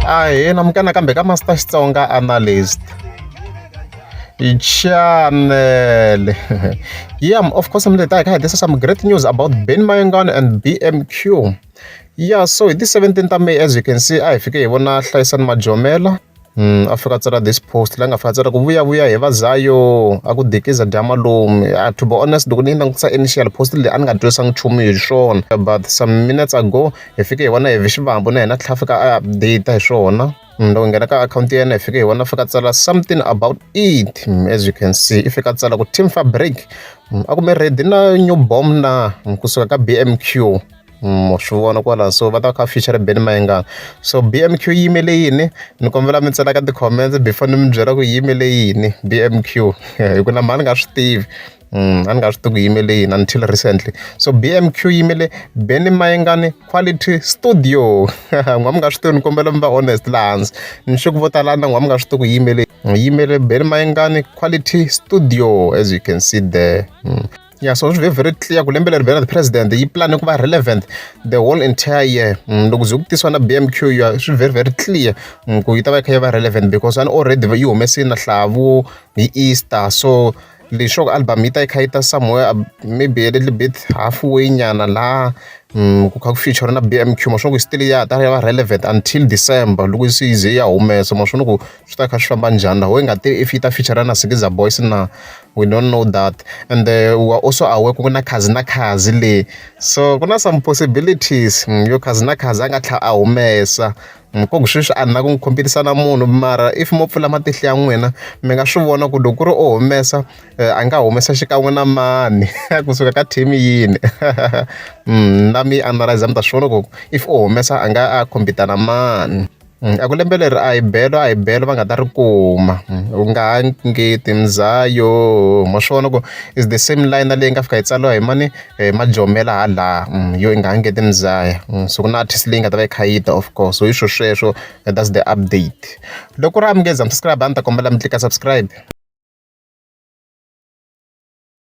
a hi namukana kambe ka master xitsonga analyst channel yeah of course mi leta hi kha hi tisa some great news about ben mayengan and bmq yeah so hi ti-17 ta may as you can see a hi fike hi vona hlayisani majomela a fika a tsala this post la nga fika a tsala ku vuyavuya he va zayo a ku dikiza dya malume a to be honest loko ni yi langutisa initial post leyi a ni nga twisanga nchumu hi swona but some minutes ago hi fike hi vona heavy xivambo na hina tlhela fika a update hi swona mm, loko nghena ka akhawunti ya yena hi fike hi vona fika tsala something about it mm, as you can see i fika tsala ku team fabric mm, a kume ready na new bomb na kusuka ka bmq ma swi vona kwalaho so va ta va kha va feature Benny Mayengani so B_M_Q yi yimele yini ni kombela mi tsala ka ti-comments before ni mi byela ku yi yimele yini B_M_Q hi ku na mhani nga swi tivi a ni nga swi tivi ku yimele yini until recently so B_M_Q yi yimele Benny Mayengani quality studio n'wina mi nga swi tivi ni kombela mi va honest laha hansi ni sure ku vo tala na n'wina mi nga swi tivi ku yi yimele yi yimele Benny Mayengani quality studio as you can see there. ya so swi ve very clear ku lembe leri vhela the president yi plan ku va relevant the whole entire year mm, loko ze ku tisiwa na b m q ya swi very very clear mm, ku yi ta va yi kha yi va relevant because ani already yi humesini na hlavu hi easter so leswaku album yi ta yi kha yi ta somewhere uh, maybe a little bit halfway nyana laha mm, ku kha ku feature na b m q maswona ku yi still ya ta ya va relevant until december loko se yi ze ya humesa maswona ku swi ta kha swi famba njhani laha why nga tivi if yi ta feature-a na Skiza Boys na we don't know that ende u wa also aware ku na Kha'Zi na Kha'Zi le so ku na some possibilities yo Kha'Zi na Kha'Zi a nga tlhela a humesa ko ku sweswi a ni lava ku n'wi khompitisa na munhu mara if mo pfula matihlo ya n'wina mi nga swi vona ku loko ku ri o humesa a nga humesa xikan'we na mani kusuka ka team yini na mi analyser mi ta swi vona ku if o humesa a nga a khompita na mani. A ku lembe leri a hi belo a hi belo va nga ta ri kuma u nga ha ngeti muzaya oho ma swi vona ku is the same line na leyi nga fika yi tsariwa hi mani hi majomela hala laha yo i nga ha ngeti muzaya so ku na artist leyi nga ta va yi kha yi ta of course so hi swo sweswo that's the update loko ku ri a mi nge za mi subscribe a ni ta kombela mi tlika subscribe.